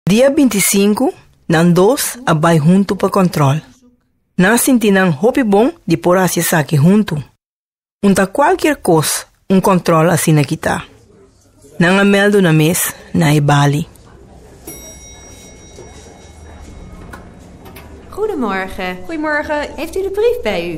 Dia binti i sinku, nan dos a bai huntu pa kòntròl. Nan a sinti nan hopi bon di por hasi esaki huntu. Un ta kualkier kos un kòntròl asina kitá. Nan a mèldu nan mes na e bali. Goedemorgen. Goedemorgen. Heeft u de brief bij u?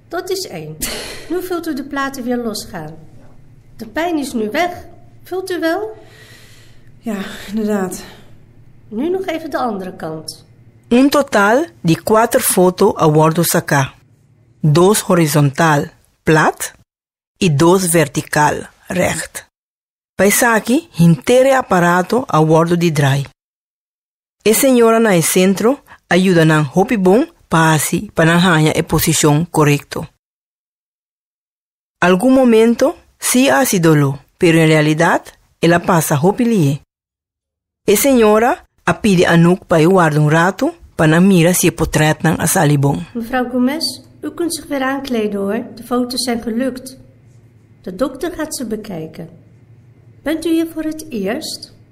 Dat is één. Nu vult u de platen weer losgaan. De pijn is nu weg, vult u wel? Ja, inderdaad. Nu nog even de andere kant. Un total di kuater foto a wòrdu saká, dos horizontal, plat, i dos vertikal, règt. Pa esaki henter e aparato a wòrdu di drai. E señoranan e sentro a yuda nan hopi bon pa hasi pa nan haña e posishon korekto. Algun momento sí a hasi doló, pero en realidat el a pasa hopi lihe. E señora a pidi Anouk pa e warda un ratu pa nan mira si e potrètnan a sali bon. Mevrouw Gomez, u kunt zich weer aankleden hoor, de foto's zijn gelukt. De dokter gaat ze bekijken. Bent u hier voor het eerst?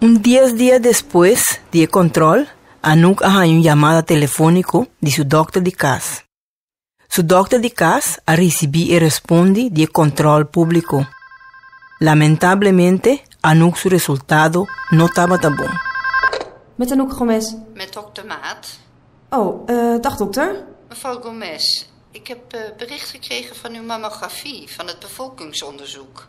Un dies dia despues di e control, Anouk a haña un yamada telefonico di su dokter di cas. Su dokter di cas a ricibi e respondi di e control publico. Lamentablemente, Anouk su resultado no tabata bon. Met Anouk Gomes? Met dokter Maat. Oh, dag dokter. Mevrouw Gomes, ik heb bericht gekregen van uw mammografie van het bevolkingsonderzoek.